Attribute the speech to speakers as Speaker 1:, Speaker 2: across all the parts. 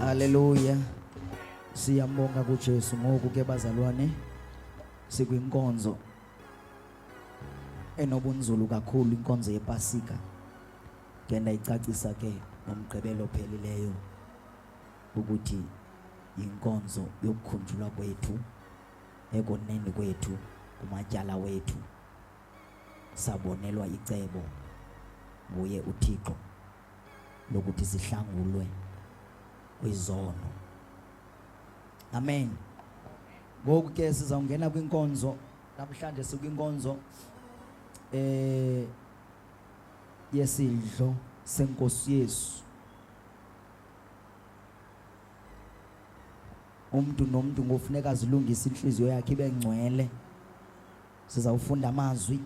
Speaker 1: Haleluya. Siyambonga kuJesu ngoku ke bazalwane sikwinkonzo enobunzulu kakhulu inkonzo yePasika. Ke ndayicacisa ke ngomgqibelo phelileyo ukuthi yinkonzo yokukhunjulwa kwethu ekoneni kwethu kumatyala wethu sabonelwa icebo nguye uThixo lokuthi sihlangulwe kwizono amen ngoku ke sizawungena kwinkonzo namhlanje sikwinkonzo eh yesidlo senkosi Yesu umuntu nomuntu ngofuneka azilungise inhliziyo yakhe ibe ngcwele Sizawufunda amazwi.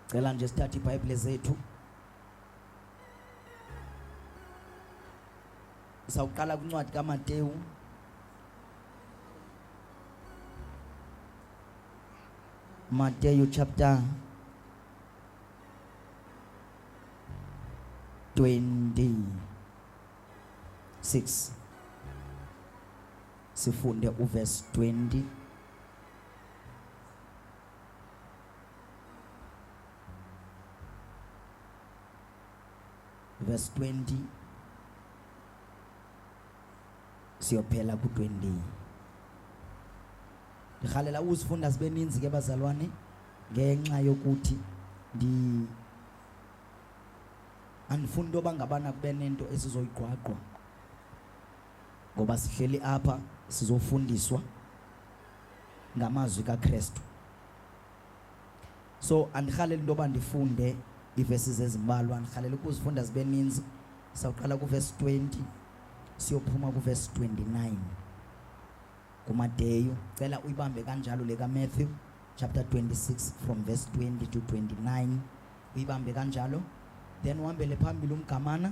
Speaker 1: Cela nje sithathe iBhayibhile zethu. Sawuqala kwincwadi kaMateyu Mateyu chapter 26 sifunde uverse 20 verse 20 siyophela ku-20 ndirhalela uzifunda zibe ninzi ke bazalwane ngenxa yokuthi ndi andifuni into yoba ngabana kube nento esizoyigqwagqwa ngoba sihleli apha sizofundiswa ngamazwi kaKristu so andirhaleli into yoba ndifunde iivesi zezimbalwa andirhaleli ukuzifunda zibe ninzi sawuqala kuvesi 20 siyophuma kuvesi 29 kumadeyu cela uyibambe kanjalo le kamatthew chapter 26 from verse 20 to 29 uyibambe kanjalo then uhambele phambili umgamana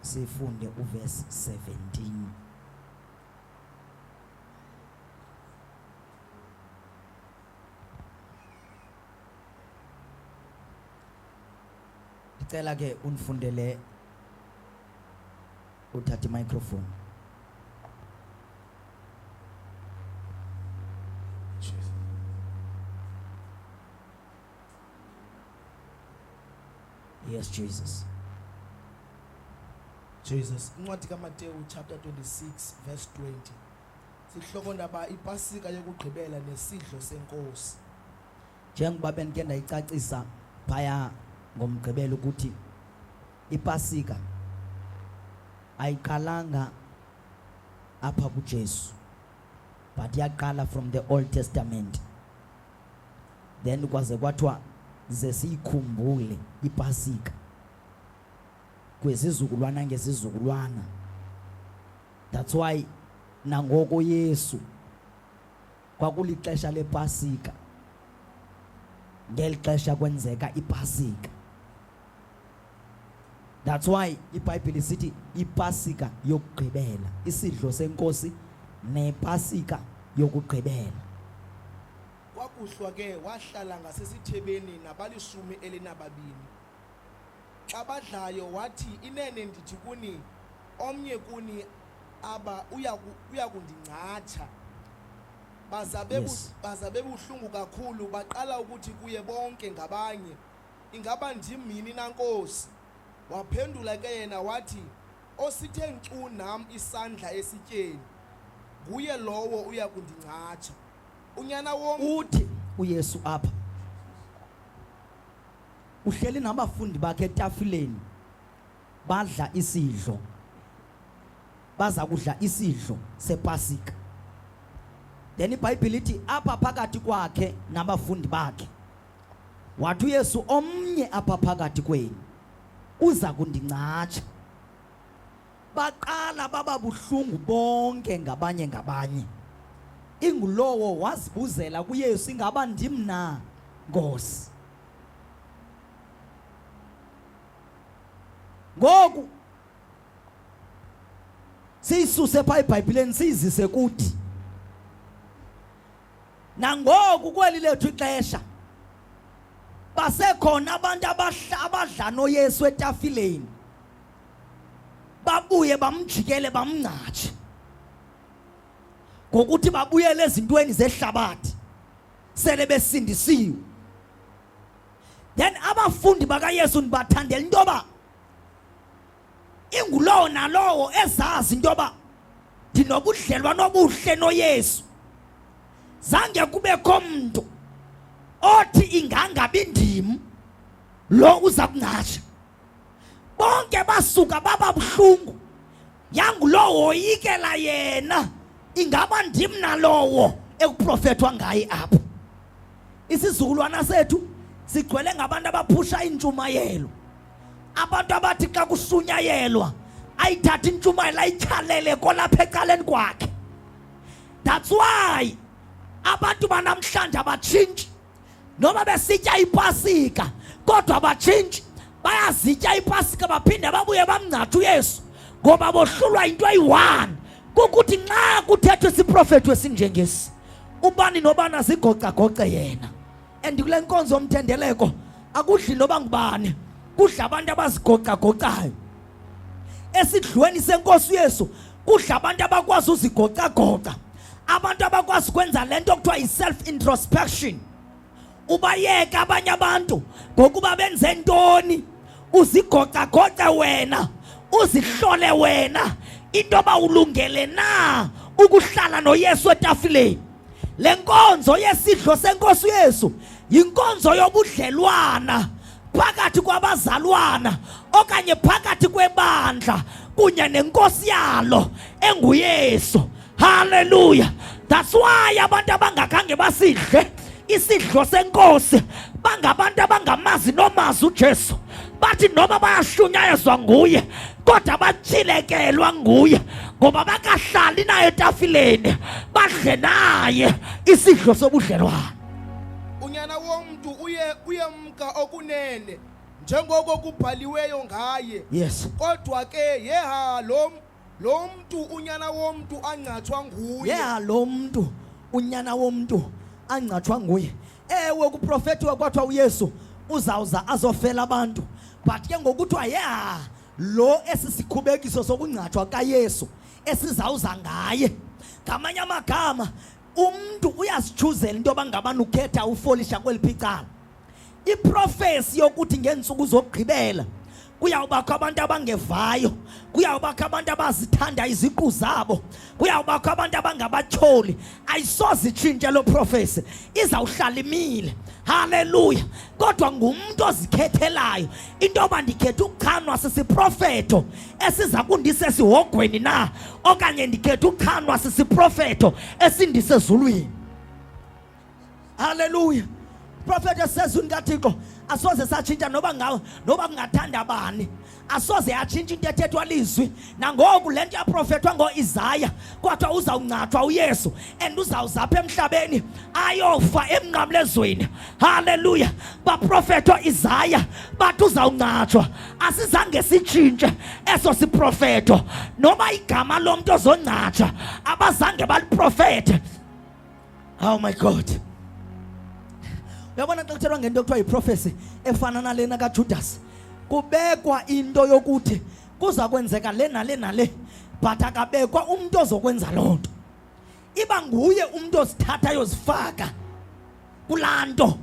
Speaker 1: sifunde uvesi 17 ndicela ke undifundele uthatha imicrophone Yes, Jesus.
Speaker 2: Jesus, incwadi kaMateyu chapter 26 verse 20. Sihloko ndaba ipasika yokugqibela nesidlo senkosi. Njengoba
Speaker 1: bendike ndayicacisa phaya ngomgqibelo ukuthi ipasika ayiqalanga apha kuJesu but yaqala from the Old Testament. then kwaze kwathiwa ze siyikhumbule ipasika kwezizukulwana ngezizukulwana that's why nangoko yesu kwakulixesha lepasika ngeli xesha kwenzeka ipasika That's why iBhayibhile sithi iPasika yokugqibela, isidlo senkosi nePasika yokugqibela.
Speaker 2: Kwakuhlwa ke wahlala ngasesithebeni nabalishumi elinababini. Xa badlayo wathi inene ndithi kuni omnye kuni aba uya uya kundingcatsha. Baza bebu Yes. baza bebuhlungu kakhulu baqala ukuthi kuye bonke ngabanye. Ingaba ndim yini na Nkosi? Waphendula ke yena wathi, Osithe nkcu nam isandla esityeni, nguye lowo uya kundingcatsha. Unyana wom Uthi uYesu
Speaker 1: apha uhleli nabafundi bakhe etafileni badla isidlo. Baza kudla isidlo sePasika. Then iBhayibhile ithi apha phakathi kwakhe nabafundi bakhe Wathi uYesu, omnye apha phakathi kwenu uza kundincatsha. Baqala baba buhlungu bonke ngabanye ngabanye. Ingulowo wazibuzela kuYesu, ingaba ndim na, Nkosi? Ngoku siyisuse pha eBhayibhileni siyizise kuthi nangoku kweli lethu ixesha basekhona abantu abadla noyesu etafileni babuye bamjikele bamngcatshe ngokuthi babuyele ezintweni zehlabathi sele besindisiwe then abafundi bakayesu ndibathandela into yoba ingulowo nalowo ezazi into yoba ndinobudlelwane obuhle noyesu zange kubekho mntu othi ingangabi ndim lo uza kungatsha bonke basuka baba buhlungu yangulowo woyikela yena ingaba ndim nalowo ekuprofethwa ngaye apho isizukulwana sethu sigcwele ngabantu abaphusha iintshumayelo abantu abathi xa kusunyayelwa ayithathe intshumayelo ayityhalele kolapha ecaleni kwakhe that's why abantu banamhlanje abatshintshi noba besitya ipasika kodwa abatshintshi bayazitya ipasika baphinde babuye bamngcatha uyesu ngoba bohlulwa yinto eyi-one kukuthi nxa kuthethwa isiprofethi esinjengesi ubani nobani azigocagoce yena and kule nkonzo yomthendeleko akudli noba ngubani kudla abantu abazigocagocayo esidlweni senkosi yesu kudla abantu abakwazi uzigocagoca abantu abakwazi ukwenza le nto kuthiwa yi-self introspection ubayeke abanye abantu ngokuba benze ntoni uzigocagoce wena uzihlole wena into yoba ulungele na ukuhlala noyesu etafileni Le nkonzo yesidlo senkosi uYesu yinkonzo yobudlelwana phakathi kwabazalwana okanye phakathi kwebandla kunye nenkosi yalo enguYesu. Hallelujah. That's why abantu abangakhange basidle isidlo senkosi bangabantu abangamazi nomazi uJesu bathi noma bayashunyayezwa nguye kodwa batyhilekelwa nguye ngoba bakahlali naye etafileni badle naye isidlo sobudlelwane unyana
Speaker 2: womntu uye uyemka okunene njengoko kubhaliweyo ngaye yes kodwa
Speaker 1: ke
Speaker 2: yeha lo lo mntu unyana womntu angcathwa nguye yeha lo mntu
Speaker 1: unyana womntu angcathwa nguye ewe kuprofetiwe kwathiwa uyesu uzawuza azofela abantu but ke ngokuthiwa ya lo esi sikhubekiso sokungcatshwa kayesu esizawuza ngaye ngamanye amagama umntu uyazitshuzela into yoba ngabani ukhetha ufolisha kweli phicala iprofesi yokuthi ngeentsuku zokugqibela kuyawubakho abantu abangevayo kuyawubakho abantu abazithanda iziqu zabo kuyawubakho abantu abangabatyholi ayisoze itshintshe loo profesi izawuhlala imile haleluya kodwa ngumntu ozikhethelayo into yoba ndikhetha ukuchanwa sisiprofeto esiza kundisa esihogweni na okanye ndikhetha ukuchanwa sisiprofeto esindisezulwini Hallelujah. Prophet esezwini kaThixo asoze satshintsha noba ngawo noba kungathanda bani asoze yatshintsha into ethethwa lizwi nangoku le nto yaprofethwa ngoisaya kodwa uzawungcathwa uyesu and uzawuzapha emhlabeni ayofa emnqamlezweni halleluya baprofethwa isaya bathi uzawungcathwa asizange sitshintshe eso siprofetho noba igama lomntu ozongcathwa abazange baliprofethe Oh my God. Uyabona xa kuthelwa ngento kuthiwa yiprofesi efana nalena kaJudas. Kubekwa into yokuthi kuza kwenzeka le nale nale but akabekwa umuntu ozokwenza loo nto. Iba nguye umuntu ozithatha yozifaka kulaa nto.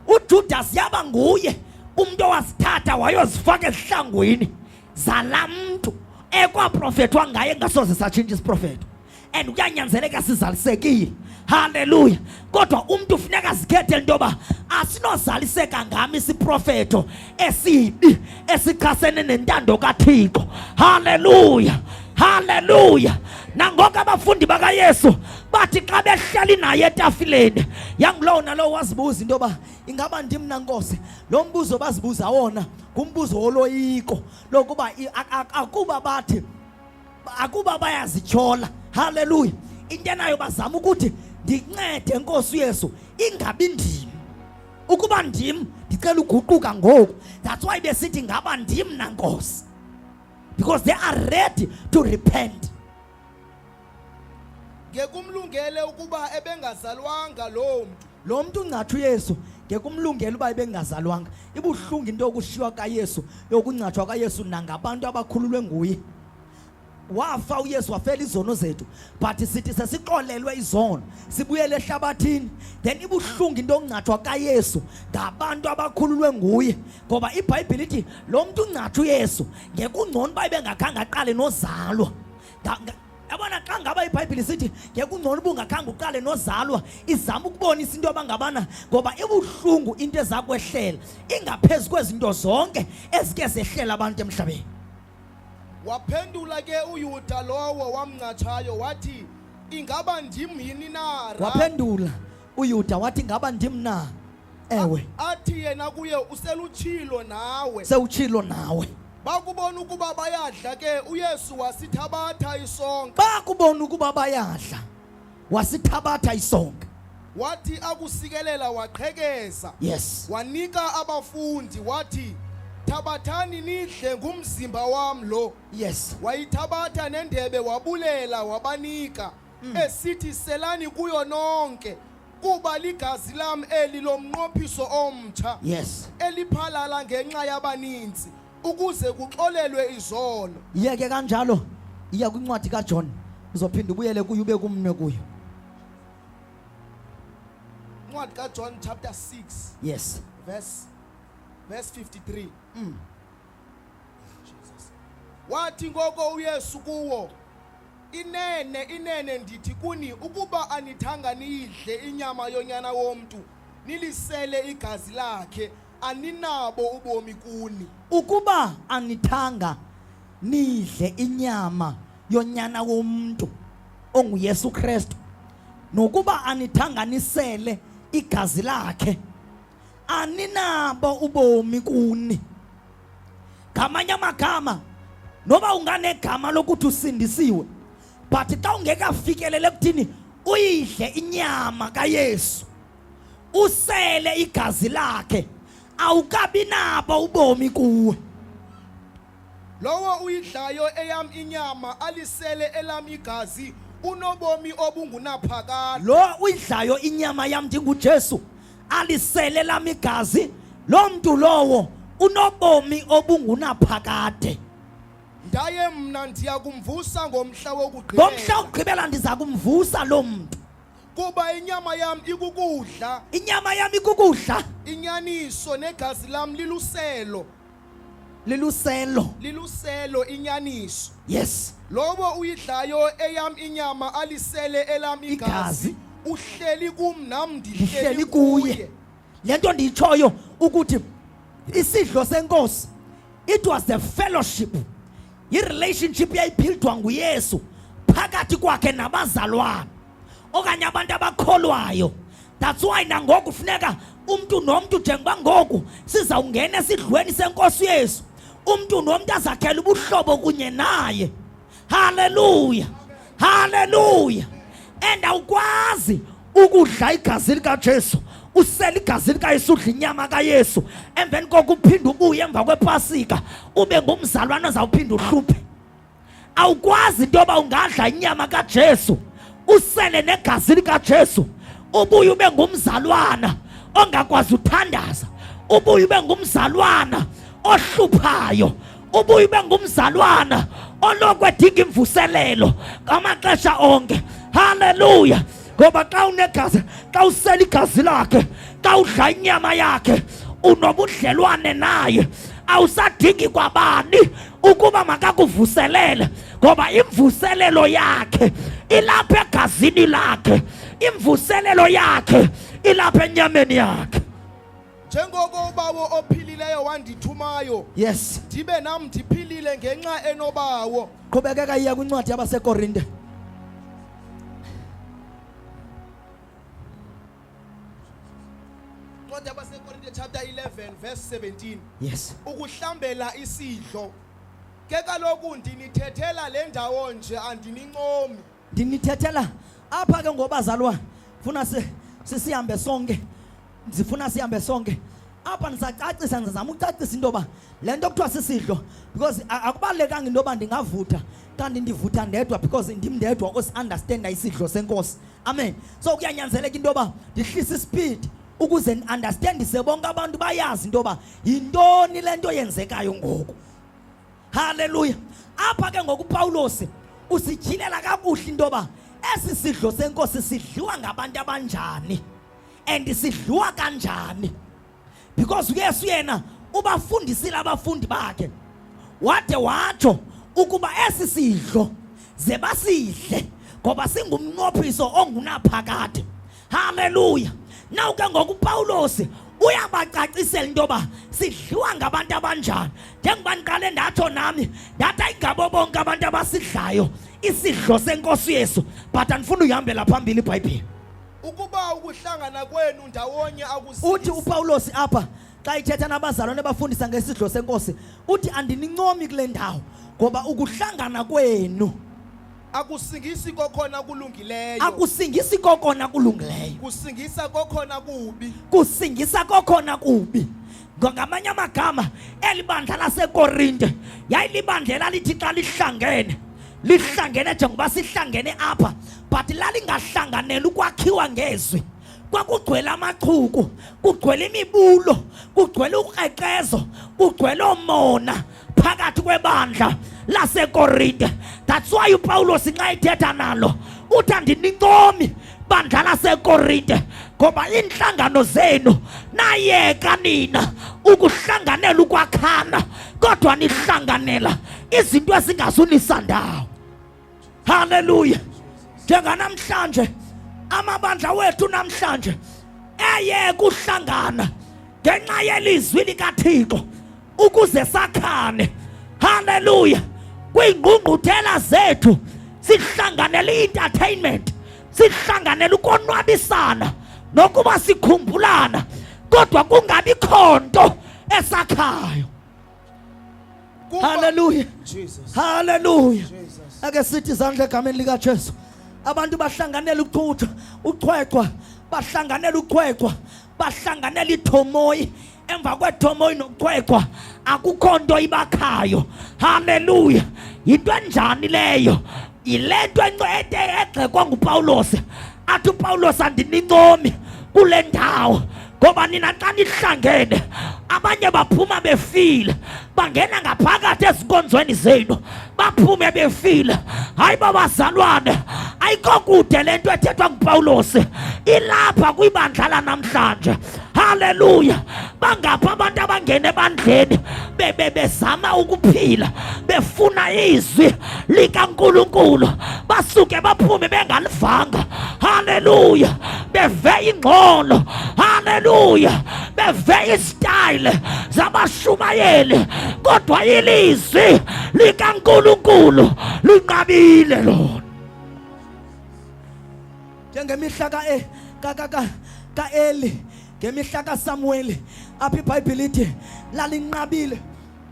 Speaker 1: UJudasi yaba nguye umntu owazithatha wayozifaka ezihlangwini zalaa mntu ekwaprofethwa ngaye ngasoze satshintsha isiprofeto and kuyanyanzeleka sizalisekile haleluya kodwa umntu funeka azikhethele into yoba asinozaliseka ngam isiprofeto esibi esichasene nentando kaThixo. Haleluya. Haleluya. Nangoku abafundi bakaYesu bathi xa behleli naye etafileni yangulowo nalowo wazibuza into yoba ingaba ndim nankosi lo mbuzo bazibuza wona ngumbuzo woloyiko lokuba akuba bathi akuba bayazityhola haleluya into enayo bazama ukuthi ndincede nkosi uyesu ingabi ndim ukuba ndim ndicela uguquka ngoku that's why besithi ngaba ndim nankosi because they are ready to repent
Speaker 2: ngekumlungele ukuba ebengazalwanga loo mntu lo mntu ungatha uyesu
Speaker 1: ngekumlungela uba ebengazalwanga ibuhlungu into yokushiywa kayesu yokungatshwa kayesu nangabantu abakhululwe nguye wafa uyesu wafela izono zethu but sithi sesixolelwe izono sibuyele ehlabathini then ibuhlungu into ongcathwa kayesu ngabantu abakhululwe nguye ngoba ibhayibhile ithi lo mntu ungcatha uyesu ngekungcono uba ibengakhange aqale nozalwa yabona xa ngaba ibhayibhile sithi ngekungcono uba ungakhange uqale nozalwa izama ukubonisa into abangabana ngoba ibuhlungu into ezakwehlela ingaphezu kwezinto zonke ezike zehlela abantu emhlabeni
Speaker 2: Waphendula ke uYuda lowo wamncatshayo wathi ingaba ndim yini na? Ra- waphendula
Speaker 1: uyuda wathi ngaba ndim na ewe Athi yena
Speaker 2: kuye uselutshilo nawe. sewutshilo nawe
Speaker 1: Bakubona ukuba
Speaker 2: bayadla ke uYesu wasithabatha isonka. bakubona ukuba
Speaker 1: bayadla wasithabatha isonke wathi
Speaker 2: akusikelela waqhekeza yes wanika abafundi wathi thabathani nidle ngumzimba wam lo yes wayithabatha nendebe wabulela wabanika mm. esithi selani kuyo nonke kuba ligazi lam eli lomnqophiso omtsha yes
Speaker 1: eliphalala
Speaker 2: ngenxa yabaninzi ukuze kuxolelwe izono yeke kanjalo
Speaker 1: iya kwincwadi kaJohn uzophinda ubuyele kuyo ube kumnwe kuyo
Speaker 2: incwadi kaJohn chapter 6 yes verse verse 53 mm. Jesus wathi ngoko uYesu kuwo inene inene ndithi kuni ukuba anithanga niyidle inyama yonyana womntu nilisele igazi lakhe aninabo ubomi kuni ukuba
Speaker 1: anithanga nidle inyama yonyana womntu onguyesu kristu nokuba anithanga nisele igazi lakhe aninabo ubomi kuni ngamanye amagama noba unganegama lokuthi usindisiwe but xa ungekafikelele ekuthini uyidle inyama kayesu usele igazi lakhe awukabi nabo ubomi kuwe
Speaker 2: lowo uyidlayo eyam inyama alisele elam igazi unobomi obungunaphakade lo uyidlayo
Speaker 1: inyama yam ndingujesu alisele elam igazi loo mntu lowo unobomi obungunaphakade
Speaker 2: ndaye mna ndiya kumvusa ngomhla wokugqibela ngomhla wokugqibela
Speaker 1: ndiza kumvusa loo mntu kuba inyama
Speaker 2: yam ikukudla inyama yam
Speaker 1: ikukudla inyaniso
Speaker 2: negazi lam liluselo liluselo
Speaker 1: liluselo inyaniso
Speaker 2: yes lowo
Speaker 1: uyidlayo
Speaker 2: eyam inyama alisele elam igazi Igazi. uhleli kum nam ndihleli ndihleli kuye kuye
Speaker 1: le nto
Speaker 2: ndiyitshoyo
Speaker 1: ukuthi isidlo senkosi it was the fellowship irelationship yayiphildwa nguyesu phakathi kwakhe nabazalwana okanye abantu abakholwayo that's why nangoku funeka umntu nomntu njengoba ngoku sizawungena esidlweni senkosi yesu umntu nomntu azakhela ubuhlobo kunye naye Haleluya, haleluya. Enda ukwazi ukudla igazi likaJesu usela igazi likayesu udla inyama kayesu emveni koko uphinde ubuye emva kwepasika ube ngumzalwana ozawuphinde uhluphe awukwazi into yoba ungadla inyama kajesu usele negazi likajesu ubuye ube ngumzalwana ongakwazi uthandaza ubuye ube ngumzalwana ohluphayo ubuye ube ngumzalwana oloko edinga imvuselelo ngamaxesha onke haleluya ngoba xa unegazi xa usela igazi lakhe xa udla inyama yakhe unobudlelwane naye awusadingi kwabani ukuba makakuvuselele ngoba imvuselelo yakhe ilapha egazini lakhe imvuselelo yakhe ilapha enyameni yakhe njengoko
Speaker 2: ubawo ophilileyo wandithumayo yes ndibe
Speaker 1: nam ndiphilile
Speaker 2: ngenxa enobawo qhubekeka iya
Speaker 1: kwincwadi yabasekorinte incwadi
Speaker 2: yabasekorinte chapter 11 verse 17 yes
Speaker 1: ukuhlambela
Speaker 2: isidlo ke kaloku ndinithethela le ndawo nje andinincomi ndinithethela
Speaker 1: apha ke ngobazalwane funa sisihambe sonke ndifuna sihambe sonke apha ndisacacisa ndizama ucacisa into yoba le nto kuthiwa sisidlo because akubalulekanga into yoba ndingavutha kanti ndivutha ndedwa because ndim ndedwa osiundastanda isidlo senkosi amen so kuyanyanzeleka into yoba ndihlise isipidi ukuze ndiundastandise bonke abantu bayazi into yoba yintoni le nto yenzekayo ngoku Haleluya. Apha ke ngoku Pawulos usijilela kakuhle into yoba esi sidlo senkosi sidliwa ngabantu abanjani and sidliwa kanjani because uyesu yena ubafundisile abafundi bakhe wade watsho ukuba esi sidlo ze basidle ngoba singumnqophiso ongunaphakade Haleluya. Nawu ke ngoku uPawulos uyabacacisela into yoba sidliwa ngabantu abanjani njengoba ndiqale ndatsho nami ndathi ayingabo bonke abantu abasidlayo isidlo senkosi yesu but andifuna uyihambela phambili ibhayibhile ukuba
Speaker 2: ukuhlangana kwenu ndawonye uthi upawulosi apha
Speaker 1: xa ithetha nabazalwane bafundisa ngesidlo senkosi uthi andinincomi kule ndawo ngoba ukuhlangana kwenu Akusingisi
Speaker 2: kokhona kulungileyo. Akusingisi kokona
Speaker 1: kulungileyo. Kusingisa kokhona
Speaker 2: kubi. Kusingisa
Speaker 1: kokhona kubi. Ngamanye amagama eli bandla laseKorinte yayilibandla elalithi xa lihlangene lihlangene njengoba sihlangene apha but lalingahlanganeli ukwakhiwa ngezwi kwakugcwele amachuku kugcwele imibulo kugcwele ukreqezo kugcwele omona phakathi kwebandla lasekorinte that's why upawulos nxa ithetha nalo uthi andinincomi bandla lasekorinte ngoba iinhlangano zenu nayeka nina ukuhlanganela ukwakhana kodwa nihlanganela izinto ezingazunisandawo Haleluya. Njenganamhlanje amabandla wethu namhlanje eye kuhlangana ngenxa yelizwi likaThixo ukuze sakhane. Haleluya. Kwingqungquthela zethu sihlanganele i-entertainment, sihlanganele ukonwabisana nokuba sikhumbulana kodwa kungabi khonto esakhayo. Hallelujah. Jesus.
Speaker 2: Hallelujah.
Speaker 1: Jesus. Ake sithi
Speaker 2: izandla egameni
Speaker 1: lika Jesu. Abantu bahlanganela ukuthutha, uchwechwa, bahlanganela uchwechwa, bahlanganela ithomoyi emva kwethomoyi nokuchwechwa akukho nto ibakhayo. Hallelujah. Yinto enjani leyo? Yile nto encede egxekwa nguPawulos athi uPawulos andinincomi kule ndawo ngoba nina xa nihlangene abanye baphuma befile bangena ngaphakathi ezinkonzweni zenu baphume befile hayi babazalwane ayikho kude le nto ethethwa ngupawulosi ilapha kwibandla lanamhlanje Haleluya! Bangapha abantu abangena ebandleni bebe bezama ukuphila befuna izwi likaNkulunkulu basuke baphume bengalivanga. Haleluya! Beve ingxolo. Haleluya! Beve istyle zabashumayeli kodwa ilizwi likaNkulunkulu linqabile lona. njengemihla e, kaeli ngemihla kasamuweli apha ibhayibhile ithi lalinqabile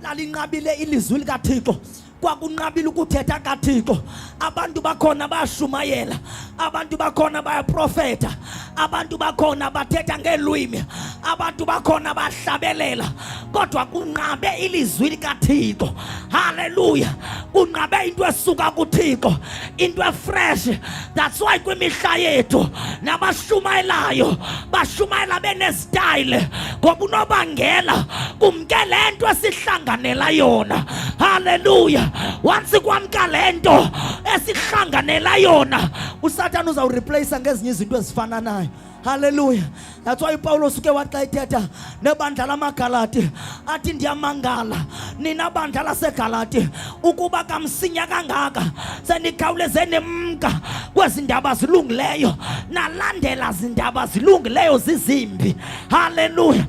Speaker 1: lalinqabile ilizwi likathixo kwakunqabile ukuthetha kathixo abantu bakhona bayashumayela abantu bakhona bayaprofeta abantu bakhona bathetha ngeelwimi abantu bakhona bahlabelela kodwa kunqabe ilizwi likathixo haleluya kunqabe into esuka kuthixo into efresh that's why kwimihla yethu nabashumayelayo bashumayela benezitayile ngoba unobangela kumke le nto esihlanganela yona halleluya once kwamka le nto esihlanganela yona usathane uzawurepleyisa ngezinye izinto ezifananayo Haleluya. That's why Paulo suke waxa ethetha nebandla lamaGalati athi ndiyamangala nina bandla laseGalati ukuba kamsinya kangaka senikhawuleze nimka kwezi ndaba zilungileyo nalandela zindaba zilungileyo zizimbi. Haleluya.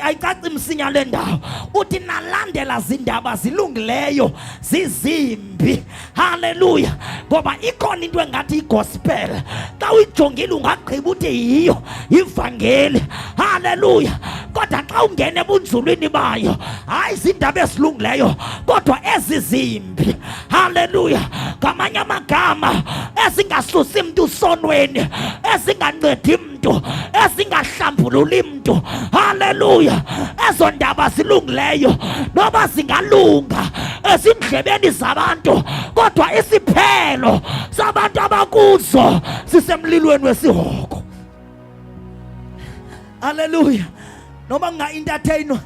Speaker 1: Ayicaci msinya le ndawo. Uthi nalandela zindaba zilungileyo zizimbi. Haleluya! Ngoba ikhona into engathi igospel, xa uyijongile ungagqiba uthi yiyo ivangeli. Haleluya! Kodwa xa ungena ebunzulwini bayo, hayi ziindaba ezilungileyo, kodwa ezi zimbi. Haleluya! Ngamanye amagama, ezingasusi mntu sonweni, ezingancedi mntu ezingahlambululi mntu haleluya ezo ndaba zilungileyo noba zingalunga ezindlebeni zabantu kodwa isiphelo sabantu abakuzo sisemlilweni wesihoko haleluya noba kungaintathainwa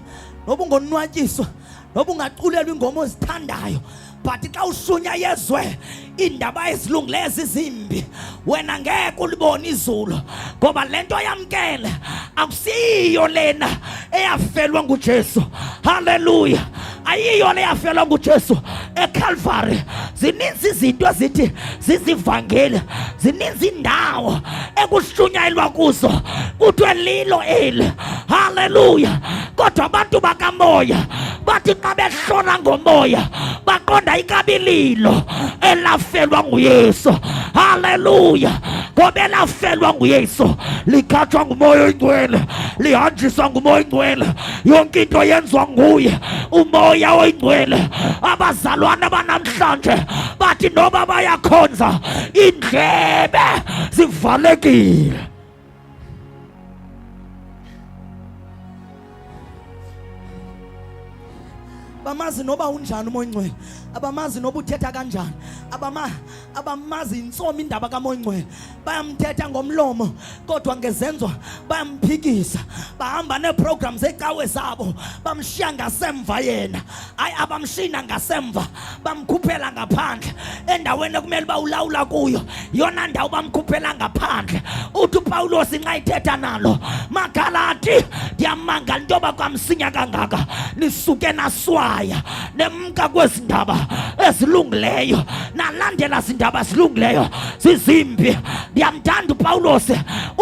Speaker 1: noba ungonwatyiswa noba ungaculelwa ingoma ozithandayo but xa ushunya yezwe iindaba ezilungileyo zizimbi wena ngeke ulibone izulu ngoba le nto yamkele akusiyiyo lena eyafelwa ngujesu halleluya ayiyo le yafelwa ngujesu ekhalvari zininzi izinto ezithi zizivangeli zininzi indawo ekushunyayelwa kuzo kuthiwe lilo eli haleluya kodwa abantu bakamoya bathi xa beshona ngomoya baqonda ikabililo elafelwa nguyesu haleluya ngoba elafelwa nguyesu likhatshwa ngumoya oyingcwele lihanjiswa ngumoya oyingcwele yonke into yenziwa nguye umoya oyingcwele abazalwana banamhlanje bathi noba bayakhonza iindlebe zivalekile bamazi noba unjani umoya oyingcwele abamazi noba uthetha kanjani abama abamazi intsomi indaba kamoyingcwele bayamthetha ngomlomo kodwa ngezenzo bayamphikisa bahamba neeprogramu zecawe zabo bamshiya ngasemva yena hayi abamshina ngasemva bamkhuphela ngaphandle endaweni ekumele uba ulawula kuyo yona ndawo bamkhuphela ngaphandle uthi upawulos inxa ithetha nalo magalati ndiyamangala into yoba kwamsinya kangaka nisuke naswaya nemka kwezi ndaba ezilungileyo nalandela zindaba zilungileyo
Speaker 3: zizimbi ndiyamthanda upawulos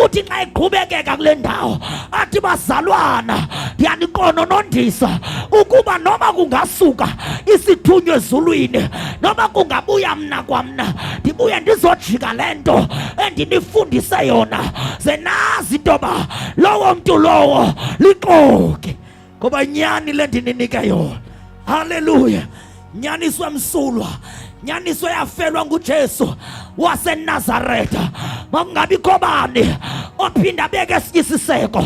Speaker 3: uthi xa eqhubekeka kule ndawo athi bazalwana ndiyaniqononondisa ukuba noba kungasuka isithunywa ezulwini noba kungabuya mna kwamna ndibuye ndizojika le nto endinifundise yona ze nazi intoba lowo mntu lowo lixoki ngoba nyani le ndininike yona haleluya nyaniso emsulwa nyaniso yafelwa ngujesu wasenazaretha makungabikho bani ophinda abeke esinye isiseko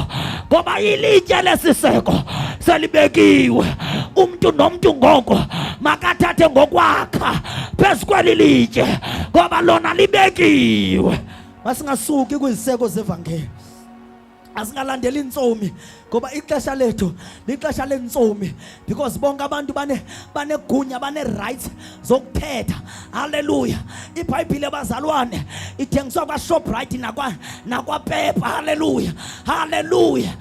Speaker 3: ngoba ilitye lesiseko selibekiwe umntu nomntu ngoko makathathe ngokwakha phezu kweli litye ngoba lona libekiwe masingasuki
Speaker 1: kwiziseko zevangeli asingalandeli iintsomi ngoba ixesha lethu lixesha leentsomi because bonke abantu bane banegunya bane-rights zokuthetha halleluya ibhayibhile bazalwane ithengiswa kwashoprite nakwapepa halleluya halleluya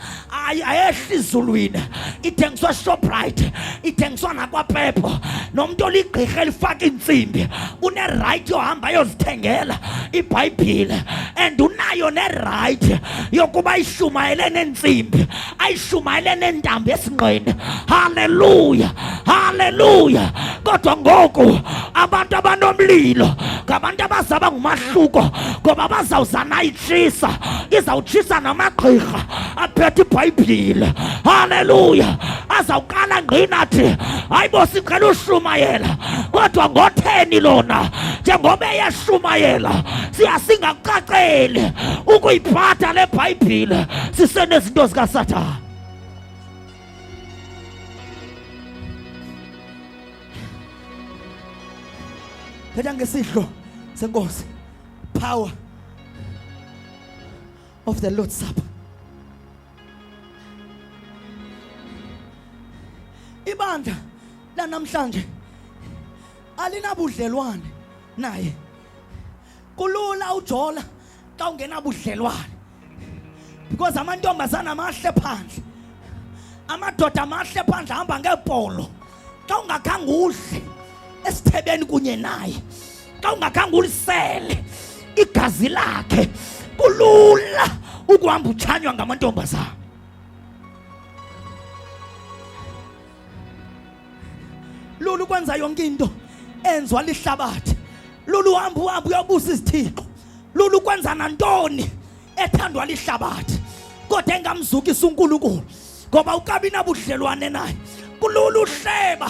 Speaker 1: ayehli izulwini ithengiswa shoprite ithengiswa nakwapepo nomntu oligqirha elifaka iintsimbi unerayithi yohamba ayozithengela ibhayibhile and unayo nerayithi yokuba ayishumayele neentsimbi ayishumayele neentambo esingqini haleluya haleluya kodwa ngoku abantu abanomlilo ngabantu abazaba ngumahluko ngoba bazawuzanayo izawutshisa izawutshisa namagqirha aphethe ibhayibhile haleluya azawuqala ngqinathi hayi bo sicela ushumayela kodwa ngotheni lona njengoba eyashumayela siya singakucaceli ukuyiphatha le bhayibhile sisenezinto zikasathana phetha ngesidlo senkosi power of the Lord's Supper. Ibandla lanamhlanje alinabudlelwane naye. Kulula ujola xa ungenabudlelwane. because amantombazana amahle phandle amadoda amahle phandle ahamba ngeepolo xa ungakhange udle esithebeni kunye naye xa ungakhange ulisele igazi lakhe kulula ukuhamba utshanywa ngamantombazana lula ukwenza yonke into enzwa lihlabathi lula uhamba uhamba uyobusa izithixo lula ukwenza nantoni ethandwa lihlabathi kodwa engamzukisa unkulunkulu ngoba ukabi nabudlelwane naye kulula uhleba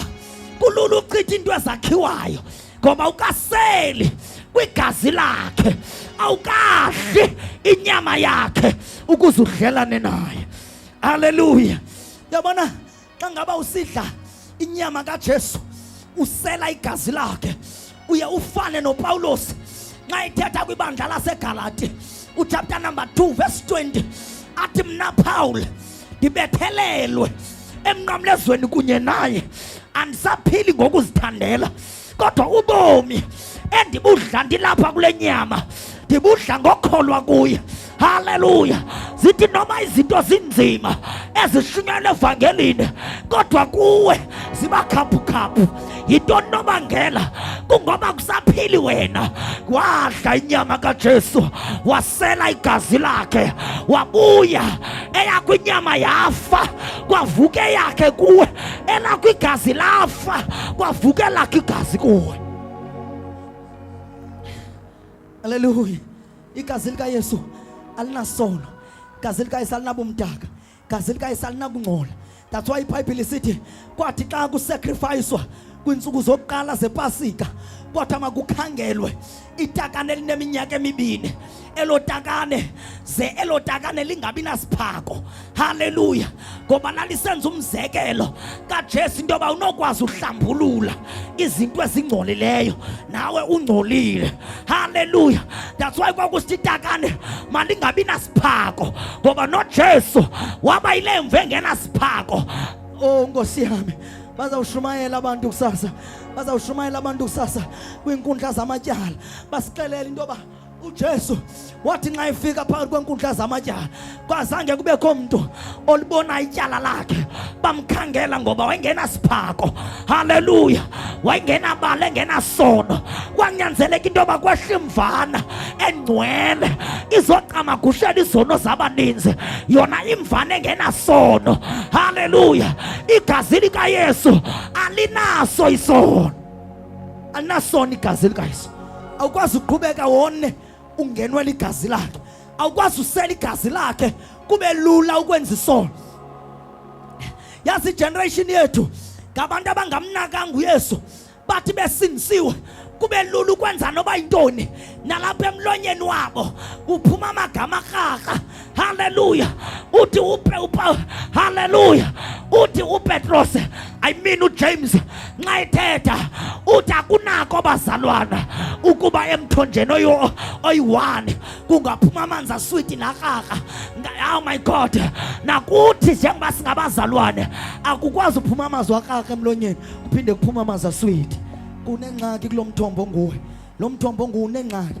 Speaker 1: kulula uchitha into ezakhiwayo ngoba ukaseli kwigazi lakhe awukadli inyama yakhe ukuze udlelane naye haleluya yabona xa ngaba usidla inyama kaJesu usela igazi lakhe uye ufane noPawulos nxa ethetha kwibandla laseGalati uchapter number 2 verse 20 athi mna Paul ndibethelelwe emnqamlezweni kunye naye andisaphili ngokuzithandela kodwa ubomi endibudla ndilapha kule nyama ndibudla ngokholwa kuye haleluya zithi noma izinto zinzima ezishunyana evangelini kodwa kuwe zibakhaphukhaphu yintoni nobangela kungoba kusaphili wena wadla inyama kajesu wasela igazi lakhe wabuya eyakho inyama yafa kwavuka eyakhe kuwe elakho igazi lafa kwavuka elakho igazi kuwe aleluya igazi likayesu alinasono igazi likayesu alinabumdaka igazi likayesu alinakungcola that's why ibhayibhile isithi kwathi xa kusakrifayiswa kwiintsuku zokuqala zepasika kwathi makukhangelwe itakane elineminyaka emibini elo takane ze elo takane lingabi nasiphako haleluya ngoba lalisenza umzekelo kajesu into yoba unokwazi uhlambulula izinto ezingcolileyo nawe ungcolile haleluya that's why kwakusithi itakane malingabi nasiphako ngoba nojesu waba yile mvu engenasiphako o oh, nkosi yami bazawushumayela abantu kusasa bazawushumayela abantu kusasa kwiinkundla zamatyala basixelela into yoba uJesu wathi nxa efika phakathi kwenkundla zamatyala kwazange kubekho mntu olibona ityala lakhe bamkhangela ngoba wayengenasiphako haleluya wayengenabala engenasono
Speaker 3: kwanyanzeleka into yoba kwehla imvana engcwele izocamagushela izono zabaninzi yona imvana engenasono haleluya igazi likayesu alinaso isono alinasono igazi likayesu awukwazi uqhubeka wone ungenwe ligazi lakhe awukwazi usela igazi lakhe kube lula ukwenza isono yazi igeneration yethu ngabantu abangamnakanga uyesu bathi besindisiwe kube lula ukwenza noba yintoni nalapha emlonyeni wabo kuphuma amagama arharha Haleluya, uti upe upa. Haleluya, uti uPetros, I mean uJames, nxa ethetha uthi akunako bazalwana ukuba emthonjeni oyo oyi-one kungaphuma amanzi aswiti nakaka oh my god nakuthi njengoba singabazalwane akukwazi uphuma amazwi akaka emlonyeni kuphinde kuphuma amanzi aswiti kunengxaki kulo mthombo nguwe lo mthombo nguwe unengxaki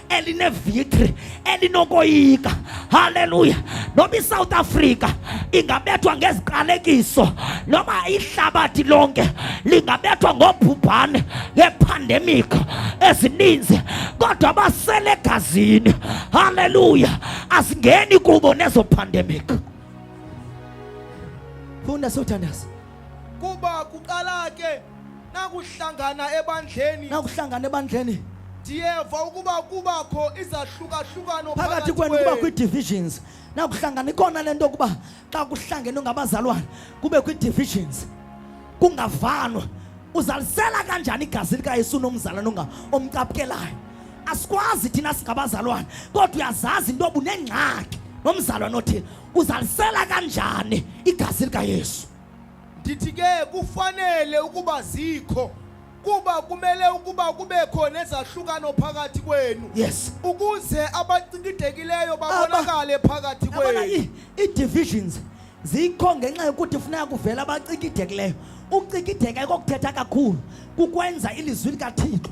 Speaker 3: elinevictory elinokoyika haleluya noba isouth africa ingabethwa ngeziqalekiso noba ihlabathi lonke lingabethwa ngobhubhane ngepandemic ezininzi kodwa basele egazini haleluya asingeni kubo nezo pandemic funda sothandaza kuba
Speaker 2: kuqala ke nakuhlangana ebandleni nakuhlangana ebandleni ndiyeva ukuba kubakho izahlukahlukano phakathi kwenu kuba
Speaker 3: kwii-divisions nakuhlangana ikona le nto yokuba xa kuhlangene ngabazalwana kube kwii-divisions kungavanwa uzalisela kanjani igazi likayesu unomzalwana onga omcapukelayo asikwazi thina singabazalwana kodwa uyazazi into obunengxaki nomzalwana othile Uzalisela kanjani igazi likaYesu? Ndithi ke
Speaker 2: kufanele ukuba zikho kuba kumele ukuba kubekho nezahlukano phakathi kwenu yes ukuze abacikidekileyo babonakale phakathi kwenu i-divisions
Speaker 3: zikho ngenxa yokuthi funeka kuvela abacikidekileyo ukucikideka kokuthetha kakhulu kukwenza ilizwi likathixo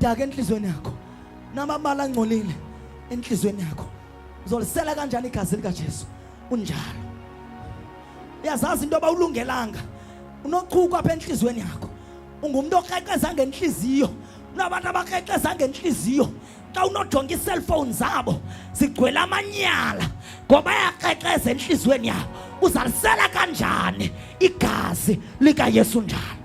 Speaker 3: daka entliziyweni yakho namabala angcolile entliziyweni yakho uzolisela kanjani igazi likajesu unjalo uyazazi into yoba ulungelanga unochuku apha entliziyweni yakho ungumntu okrexeza ngentliziyo unabantu abakrexeza ngentliziyo xa unojonga iiselfowuni zabo zigcwele amanyala ngoba ayakrexeza entliziyweni yabo uzalisela kanjani igazi likayesu njalo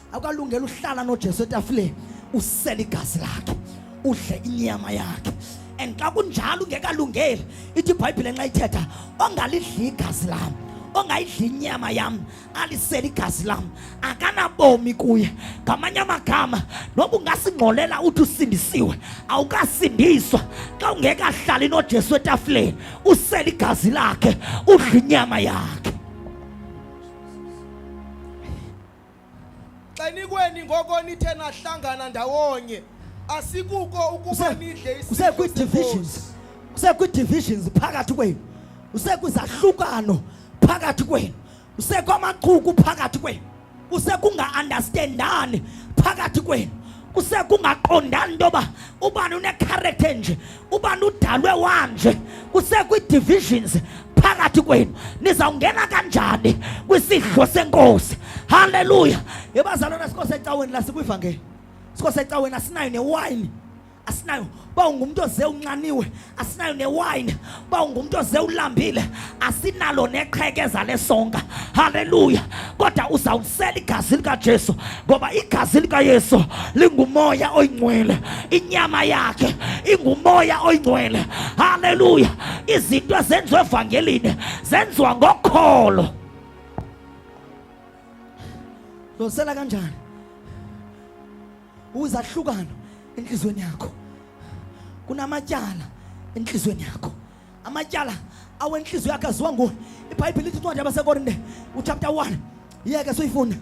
Speaker 3: awukalungela uhlala nojesu etafuleni usele igazi lakhe udle inyama yakhe and xa kunjalo ungekalungeli ithi ibhayibhile nxa ithetha ongalidli igazi lam ongayidli inyama yam alisele igazi lam akanabomi kuye ngamanye amagama noba ungasingxolela uthi usindisiwe awukasindiswa xa ungekahlali nojesu etafuleni usele igazi lakhe udla inyama yakhe
Speaker 2: xenikweni ngoko nithe nahlangana ndawonye asikuko ukuba nidle usekwi-divisions
Speaker 3: usekwi-divisions phakathi kwenu usekwizahlukano phakathi kwenu usekwamachuku phakathi kwenu usekunga-andastendani phakathi kwenu usekungaqondani into yoba ubani unekharekthe nje ubani udalwe wanje kusekwi-divisions phakathi kwenu nizawungena kanjani kwisidlo senkosi halleluya yebazalwana sikho secaweni lasikwivangeli sikho secaweni asinayo newayini asinayo uba ungumntu oze unxaniwe asinayo newayini uba ungumntu oze ulambile asinalo nexhekeza lesonka haleluya kodwa uzawusela igazi likajesu ngoba igazi likayesu lingumoya oyingcwele inyama yakhe ingumoya oyingcwele haleluya izinto ezenziwa evangelini zenziwa ngokholo losela kanjani uzahlukano enhlizweni yakho kunamatyala enhlizweni yakho amatyala awentliziyo yakhe aziwa nguwe ibhayibhile ithi incwadi yabasekorinte uchapter 1 yeke soyifunda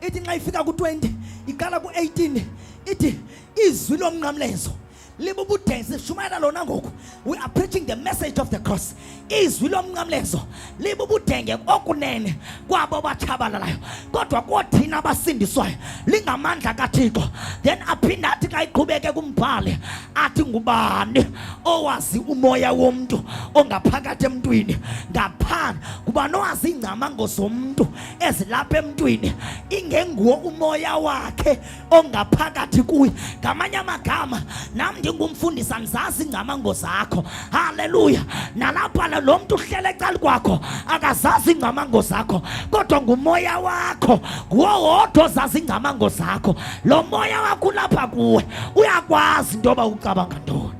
Speaker 3: ithi nxa ifika ku-20 iqala ku-18 ithi izwi lomnqamlezo libubudesi shumayela lona ngoku we are preaching the message of the cross izwi lomnqamlezo libubudenge okunene kwabo batshabalalayo kodwa koothina basindiswayo lingamandla kathixo then aphinde athi xa iqhubeke kumbhali athi ngubani owazi umoya womntu ongaphakathi emntwini ngaphandle ngubani owazi iingcamango zomntu ezilapha emntwini ingenguwo umoya wakhe ongaphakathi kuye. Ngamanye amagama nam ndingumfundisi andizazi ingcamango zakho. Haleluya! Nalapha lo mntu uhlele ecaleni kwakho akazazi ingcamango zakho, kodwa ngumoya wakho nguwo wodwa ozazi ingcamango zakho. Lo moya wakho ulapha kuwe uyakwazi into yoba ucabanga ntoni.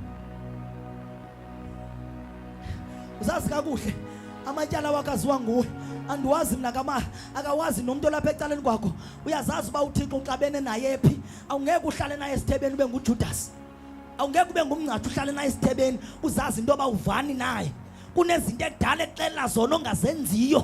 Speaker 3: uzazi kakuhle amatyala wakho aziwa nguwe andiwazi mna kama akawazi nomntu olapha ecaleni kwakho uyazazi uba uthixo uxabene naye phi awungeke uhlale naye esithebeni ube ngujudasi awungeke ube ngumngcathi uhlale naye esithebeni uzazi into yoba uvani naye kunezinto ekudala exelela zona ongazenziyo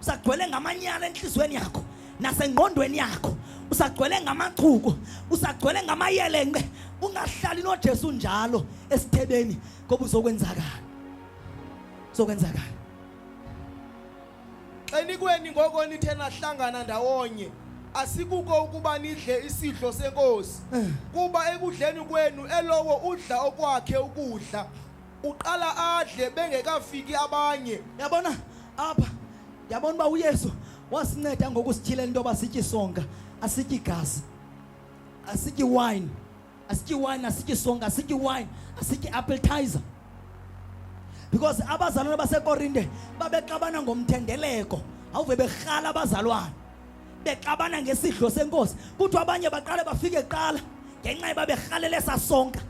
Speaker 3: usagcwele ngamanyala entliziyweni yakho nasengqondweni yakho usagcwele ngamachuku usagcwele ngamayelenqe ungahlali nojesu njalo esithebeni ngoba uzokwenzakala uzokwenzakala
Speaker 2: xenikweni ngoko nithe nahlangana ndawonye asikuko ukuba nidle isidlo senkosi eh. kuba ekudleni kwenu elowo udla okwakhe ukudla uqala adle bengekafiki abanye yabona
Speaker 1: apha yabona uba uyesu wasinceda ngokusityhilela into yoba sitye isonka asitye igazi asitye iwayini asitye iwayini asitye isonka asitye iwayini asitye appetizer because abazalwana basekorinte babexabana ngomthendeleko awuve berhala abazalwana bexabana ngesidlo senkosi kuthiwa abanye baqale bafike kuqala ngenxa yoba berhalele sasonka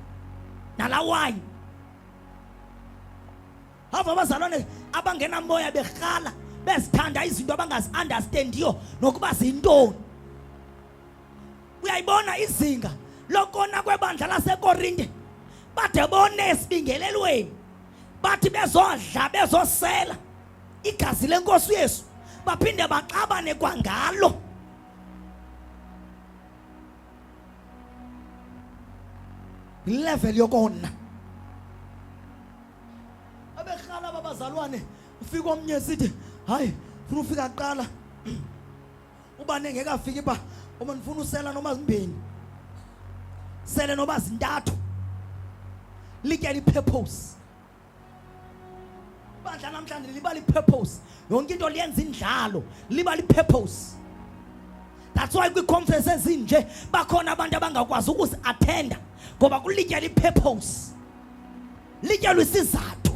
Speaker 1: nalawayini hava abazalwane abangenamoya berhala bezithanda izinto abangazi-understandiyo nokuba zintoni uyayibona izinga lokona kwebandla lasekorinte bade bone esibingelelweni bathi bezodla bezosela igazi lenkosi uyesu baphinde baxabane kwangalo level yokona abehlala babazalwane ufika omnye sithi hayi funa ufika kuqala uba nengekafiki ba uma ndifuna usela noma zimbini sele noba zintathu lityela i-purpose bandla namhlanje libala i-purpose yonke into liyenza indlalo libala i-purpose that's why kwii-conference ezinje bakhona abantu abangakwazi ukuzi-athenda ngoba kulityela i-purpose lityelwa isizathu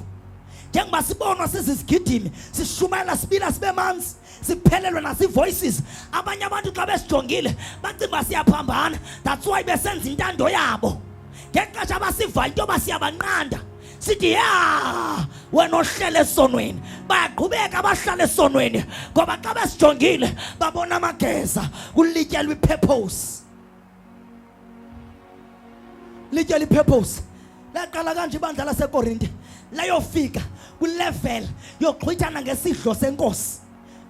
Speaker 1: njengoba sibonwa sizizigidimi sishumayela sibila sibe manzi siphelelwe nazi-voices abanye abantu xa besijongile bacinga uba siyaphambana that's why besenza intando yabo ngexesha abasivayo into yoba siyabanqanda sithi ya wena ohlele esonweni bayaqhubeka abahlala esonweni ngoba xa besijongile babona amageza kulityelwa ipurpose litye lipurpose laqala kanje ibandla lasekorinte layofika kwilevel yoxhwithana ngesidlo senkosi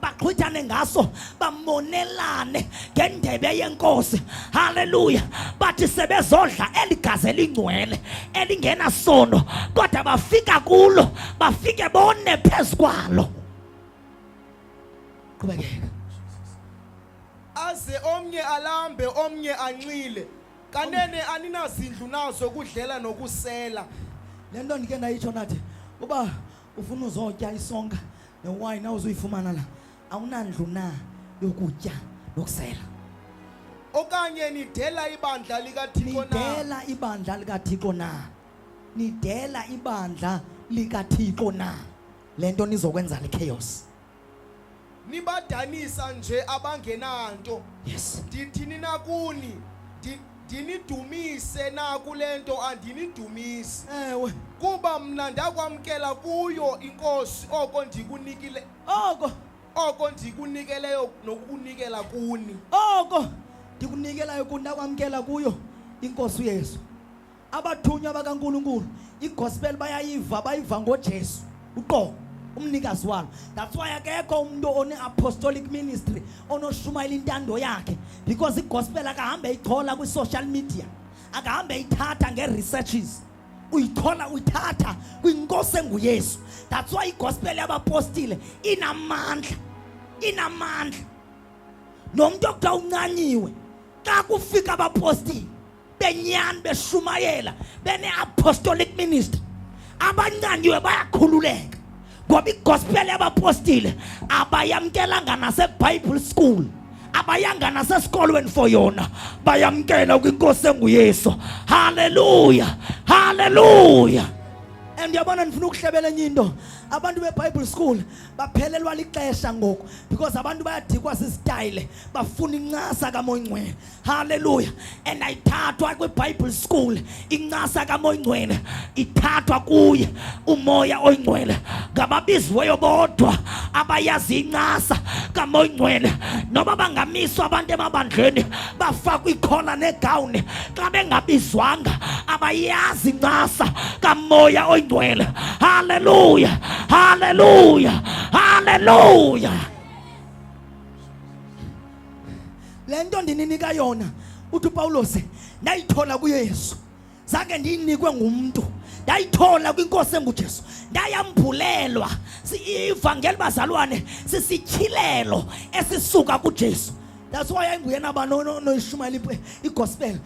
Speaker 1: baxhwithane ngaso bamonelane ngendebe yenkosi haleluya bathi sebezodla eligazi elingcwele elingenasono kodwa bafika kulo bafike bone phezu kwalo qhubekeka
Speaker 2: aze omnye alambe omnye anxile kanene aninazindlu nazo kudlela nokusela le nto ndike
Speaker 1: ndayitsho nathi uba ufuna uzotya isonka newayini awuzuyifumana la awunandlu na yokutya nokusela
Speaker 2: okanye nidela ibandla likathixo na nidela ibandla
Speaker 1: likathixo na nidela ibandla likathixo na le nto nizokwenza lichaos nibadanisa
Speaker 2: nje abangenanto yes
Speaker 1: ndithini na
Speaker 2: kuni Ndi- ndinidumise na kule nto andinidumisi ewe
Speaker 1: kuba mna
Speaker 2: ndakwamkela kuyo inkosi oko ndikunikile oko oko ndikunikeleyo nokukunikela kuni oko
Speaker 1: ndikunikelayo kundakwamkela kuyo inkosi uyesu abathunywa bakaNkulunkulu igospel bayayiva bayiva ngoJesu uqobo umnikazi walo that's why akekho umuntu one-apostolic ministry onoshumayela intando yakhe because igospel akahambe eyichola kwi-social media akahambe eyithatha nge-researches uyithola uyithatha kwinkosi enguyesu that's why igospel yabapostile inamandla inamandla nomuntu okuthiwa uncanyiwe xa kufika abapostile benyani beshumayela bene-apostolic ministry abancanyiwe bayakhululeka ngoba igospel yabapostile abayamkelanga nasebible school abayanga nasesikolweni for yona bayamkela kwinkosi enguyesu haleluya haleluya and yabona ndifuna ukuhlebela enye into abantu bebible school baphelelwa lixesha ngoku because abantu bayadikwa sisitayile bafuna incasa kamoyingcwele Hallelujah. And I ayithathwa kwiBible school incasa kamoyingcwele ithathwa kuye umoya oyingcwele ngababiziweyo bodwa abayazi incasa kamoyingcwele noba bangamiswa abantu emabandleni bafakwa ikhola negawuni xa bengabizwanga abayazi incasa kamoya oyingcwele haleluya haleluya haleluya le nto ndininika yona uthi upawulos ndayithola kuyesu zange ndiyinikwe ngumntu ndayithola kwinkosi engujesu ndayambhulelwa ivangeli bazalwane sisityhilelo esisuka kujesu that's why ayinguyena banoyishumayela igospel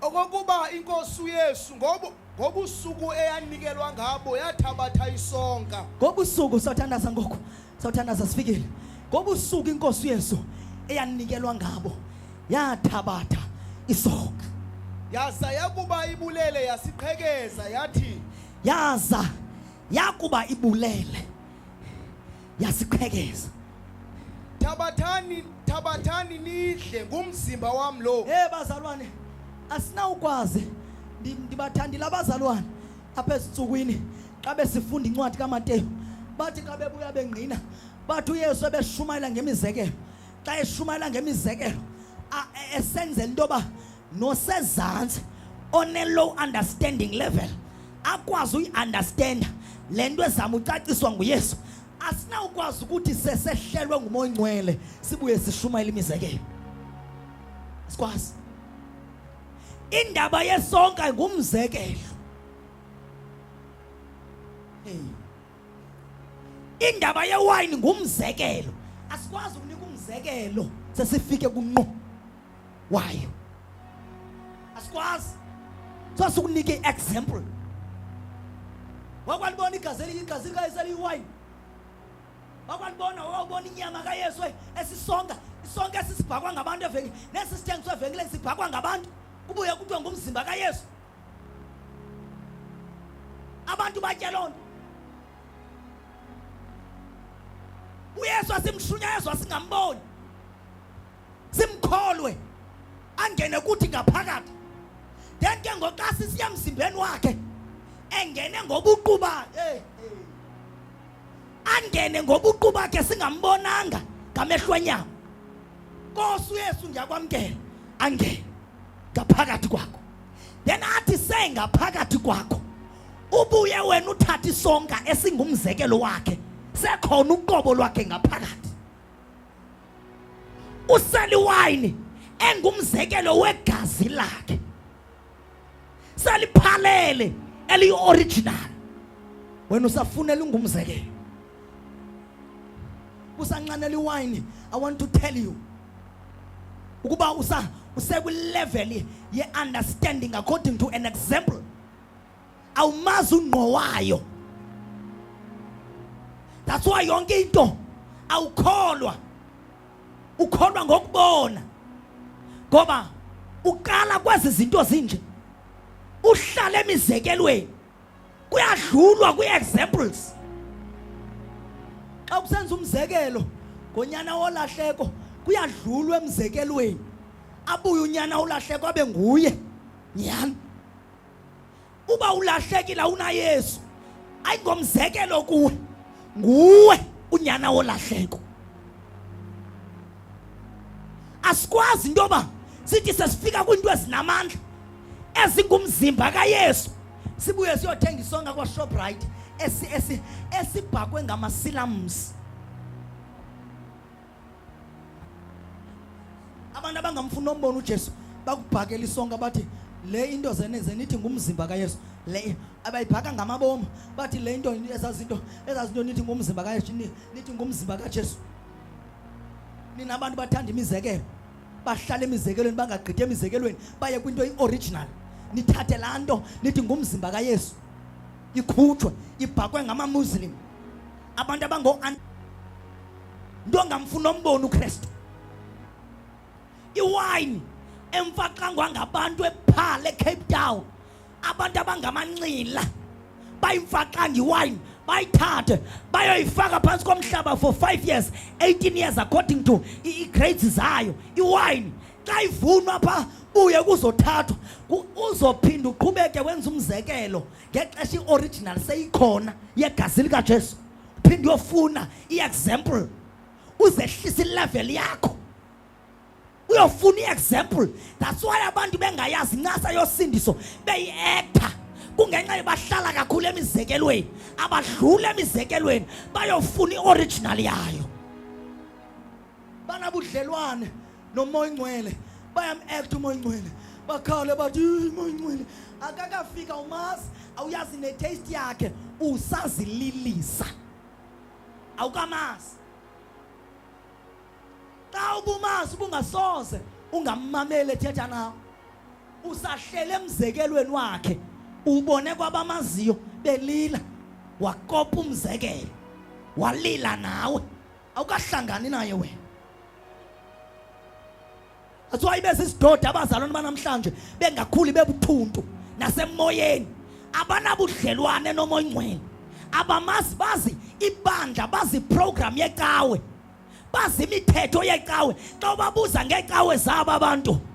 Speaker 2: Okokuba inkosi uYesu ngobu ngobusuku eyanikelwa ngabo yathabatha isonka. Ngobusuku sawuthandaza
Speaker 1: ngoku. Sawuthandaza sifikile. Ngobusuku inkosi uYesu eyanikelwa ngabo yathabatha isonka. Yaza
Speaker 2: yakuba ibulele yasiqhekeza yathi. Yaza
Speaker 1: yakuba ibulele yasiqhekeza thabathani
Speaker 2: thabathani nidle ngumzimba wam lo hey bazalwane
Speaker 1: asinawukwazi ndibathandile abazalwane apha ezintsukwini xa besifunda incwadi kamateyu bathi xa bebuya bengqina bathi uyesu ebeshumayela ngemizekelo xa eshumayela ngemizekelo esenzela into yoba nosezantsi one-low understanding level akwazi uyiunderstanda le nto ezama ucaciswa nguyesu asinawukwazi ukuthi sesehlelwe ngumoya ongcwele sibuye sishumayela imizekelo sikwazi indaba yesonka ngumzekelo indaba yewayini ngumzekelo asikwazi ukunika umzekelo sesifike kunqo wayo asikwazi so sikunike i-example wakwalibona igazi eliyigazi likayesu eliyiwayini wakwalibona wawubona inyama kayesu esisonga isonke esisibhakwa ngabantu evenkile nesi sithengiswa evenkileni sibhakwa ngabantu kubuye kuthiwa ngumzimba kayesu abantu batye loo nto uyesu asimshunyayezo asingamboni simkholwe angene kuthi ngaphakathi then ke ngoxa sisiya emzimbeni wakhe engene ngobuqu bakhe angene ngobuqu bakhe singambonanga ngamehlo enyama Nkosi uYesu ngiyakwamkela angene ngaphakathi kwakho
Speaker 3: then athi sengaphakathi kwakho ubuye wena uthathe isonka esingumzekelo wakhe sekhona uqobo lwakhe ngaphakathi useliwayini engumzekelo wegazi lakhe seliphalele eliyi-original wena usafunela ungumzekelo usancanela iwayini i want to tell you ukuba usa usekwileveli ye-understanding according to an example awumazi ungqo wayo that's why yonke into awukholwa ukholwa ngokubona ngoba uqala kwezi zinto zinje uhlala emizekelweni kuyadlulwa kwi-examples xa kusenza umzekelo ngonyana wolahleko kuyadlulwa emzekelweni abuye unyana ulahleko abe nguye nyhani uba ulahlekile awunayesu ayingomzekelo kuwe nguwe unyana wolahleko asikwazi into yoba sithi sesifika kwiinto ezinamandla ezingumzimba kayesu sibuye siyothenga isonka kwashoprite esibhakwe ngamasilamsi abantu abangamfuni nombona uJesu bakubhakela isonka bathi le into zeneze nithi ngumzimba kaYesu le abayibhaka ngamabomo bathi le into ezazinto ezazinto nithi ngumzimba kaYesu nithi ngumzimba kaJesu nina abantu bathanda imizekelo bahlala emizekelweni bangagqithi emizekelweni baye kwinto i-original nithathe laa nto nithi ngumzimba kayesu ikhutshwe ibhakwe ngamamuslim abantu abango nto ngamfuna ombona uKristu iwayini emfaxangwa ngabantu ephala eCape Town abantu abangamanxila bayimfaxanga iwayini bayithathe bayoyifaka phansi komhlaba for 5 years 18 years according to i-grades zayo iwayini xa ivunwa pha buye kuzothathwa uzophinda uqhubeke wenza umzekelo ngexesha i-original seyikhona yegazi likajesu phinde uyofuna i-example uzehlisa ilevel yakho uyofuna i-example that's why abantu bengayazi incasa yosindiso beyi-ektha kungenxa yobahlala kakhulu emizekelweni abadlula emizekelweni bayofuna i-original yayo banabudlelwane nomoya ingcwele bayam-act umoya ingcwele bakhawule bathi umoya ingcwele akakafika umazi awuyazi netaste yakhe usazililisa awukamazi xa ubumazi ubungasoze ungammameli ethetha nawe usahlele emzekelweni wakhe ubone kwabamaziyo belila wakopa umzekelo walila nawe awukahlangani naye wena athiwa ibe sisidodi abazalwane banamhlanje bengakhuli bebuthuntu nasemoyeni abanabudlelwane nomoyingcwele abamazi bazi ibandla bazi program yecawe bazi imithetho yecawe xa ubabuza ngecawe zabo abantu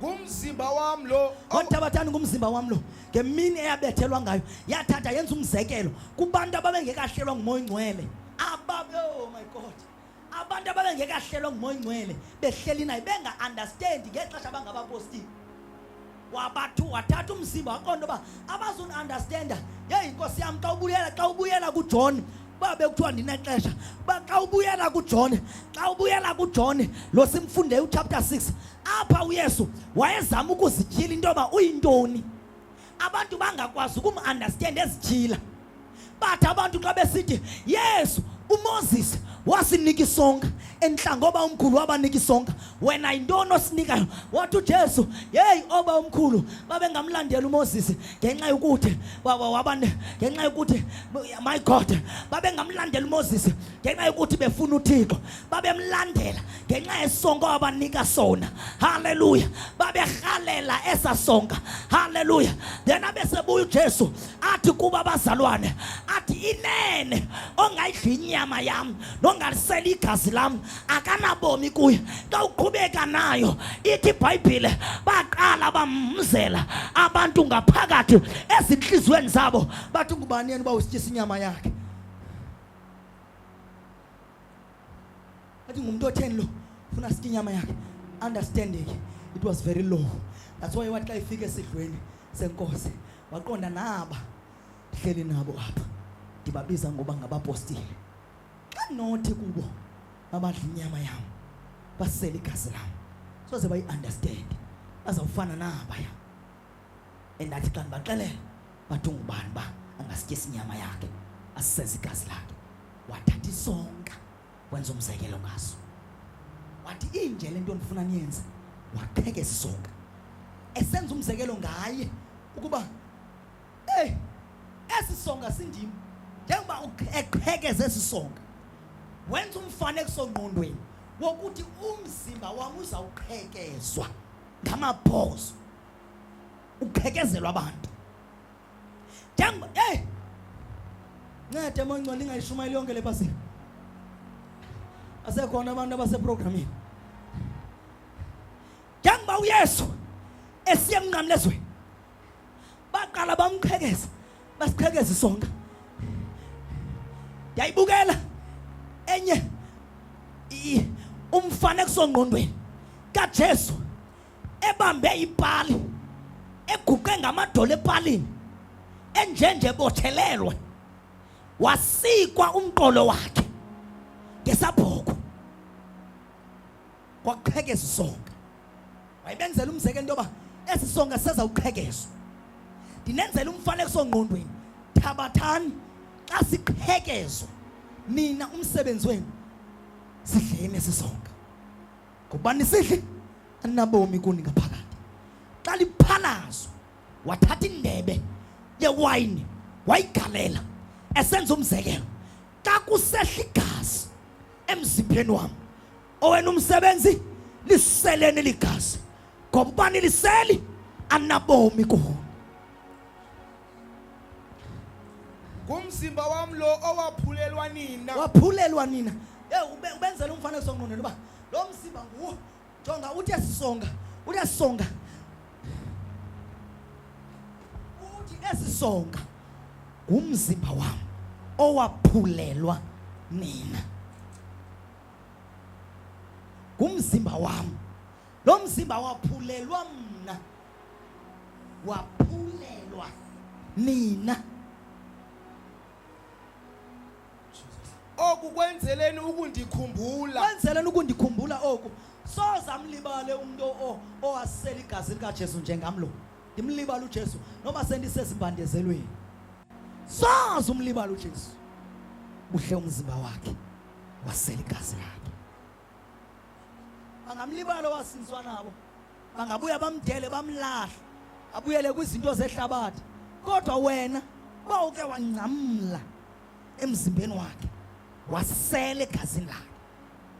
Speaker 2: ngumzimba wam lo ngothabathani ngumzimba
Speaker 3: wam lo ngemini eyabethelwa ngayo yathatha yenza umzekelo kubantu ababengekahlelwa ngumoya ongcwele ababe oh my god abantu ababengekahlelwa ngumoya ongcwele behleli naye benga-understandi ngexesha bangabapostile wabathu wathatha umzimba waqonda uba abazuni-understanda yeyi nkosi yam xa ubuyela xa ubuyela kujohn uba bekuthiwa ndinexesha uba xa ubuyela kujone xa ubuyela kujone lo simfunde uchapter 6 apha uyesu wayezama ukuzityhila into yoba uyintoni abantu bangakwazi ukumandastenda ezityhila bathi abantu xa besithi yesu umoses wasinika isonka entlanga oba umkhulu wabanika isonka wena yintoni osinikayo wathi ujesu yeyi oba umkhulu babengamlandela umoses ngenxa yokuthi waba ngenxa yokuthi my god babengamlandeli umoses ngenxa yokuthi befuna uthixo babemlandela ngenxa yesonka wabanika sona halleluya baberhalela esa sonka halleluya then abesebuya ujesu athi kuba abazalwane athi inene ongayidla inyama yam nongalisela igazi lam akanabomi kuyo xa uqhubeka nayo ithi ibhayibhile baqala bamzela abantu ngaphakathi ezintliziyweni zabo bathi ngubani yena uba usityisa inyama yakhe athi ngumntu otheni lo funa sitye inyama yakhe understanding it was very low that's why wathi xa ifika esidlweni senkosi waqonda naba ndihleli nabo apha ndibabiza ngoba ngabapostile xa nothi kubo babadla inyama yam basele igazi lam soze bayi-understand bazawufana nabaya endathi xa ndibaxelela bathi ungubani uba angasityisi inyama yakhe asiseze igazi lakhe wathatha isonka wenza umzekelo ngaso wathi inje le nto ndifuna niyenze wapheka esi sonka esenza umzekelo ngaye ukuba Ey, esi songa sindim njengoba eqhekeza esi songa wenza umfanekiso ngqondweni wokuthi umzimba wam uzawuqhekezwa ngamabhozo uqhekezelwa abantu njengoba ey ncede mongcwele ingayishumayeli yonke le pasile asekhona abantu abaseprogramini njengoba uyesu esiye emnqamlezweni baqala bamqhekeza basiqhekeza isonka yayibukela enye umfana kusongqondweni kaJesu ebambe ipali eguqe ngamadolo epalini enjenje bothelelwe wasikwa umqolo wakhe ngesabhoko kwakuqhekeza isonka wayebenzela umzekelo into yoba esi sonka sezawuqhekezwa ndinenzela umfanekiso ngqondweni thabathani xa siqhekezwa nina umsebenzi wenu sidleni esi sonka ngokuba nisidli aninabomi kuni ngaphakathi xa liphalazwa wathatha indebe yewayini wayigalela esenza umzekelo xa kusehla igazi emzimbeni wam Owenu umsebenzi liseleni ligazi ngoba uba niliseli anabomi kuwo. Ngumzimba
Speaker 2: wam lo owaphulelwa nina. Waphulelwa nina.
Speaker 3: Hey ube ubenzela umfanekiso ngqondweni uba lo mzimba nguwo. Jonga uthi esisonga, uthi esisonga. Uthi esisonga ngumzimba wam owaphulelwa nina. ngumzimba wam lo mzimba waphulelwa mna waphulelwa nina
Speaker 2: oku kwenzeleni ukundikhumbula kwenzeleni ukundikhumbula
Speaker 3: oku soze amlibale umntu owasela igazi likajesu njengam lo ndimlibala ujesu noba sendisezimbandezelweni soze umlibala ujesu uhle umzimba wakhe wasela igazi lakhe. Bangamlibala owasinzwa nabo, bangabuya bamdele bamlahle, abuyele kwizinto zehlabathi. Kodwa wena bawuke wangcamla emzimbeni wakhe, wasela egazini lakhe.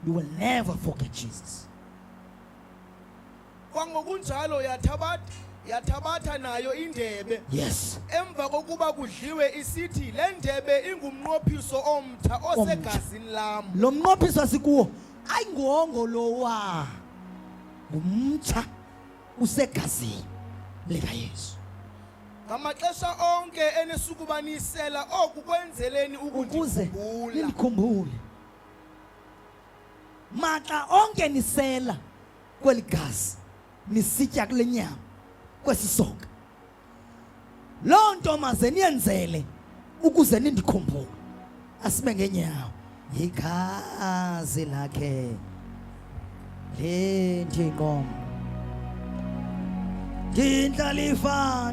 Speaker 3: You will never forget Jesus.
Speaker 2: kwangokunjalo yathabatha yathabatha nayo indebe yes emva
Speaker 3: kokuba
Speaker 2: kudliwe isithi le ndebe ingumnqophiso omtha osegazini lam lo mnqophiso asikuwo
Speaker 3: ayi ngongo lowa ngumtsha usegazini likayesu
Speaker 2: ngamaxesha onke enesukubanisela oku kwenzeleni ukuze ukundikhumbula
Speaker 3: nindikhumbule maxa onke nisela kweli gazi nisitya kule nyama kwesi soka. Loo nto maze niyenzele ukuze nindikhumbule, asibe ngenyawo yigazi lakhe lendiqom ndindlalifa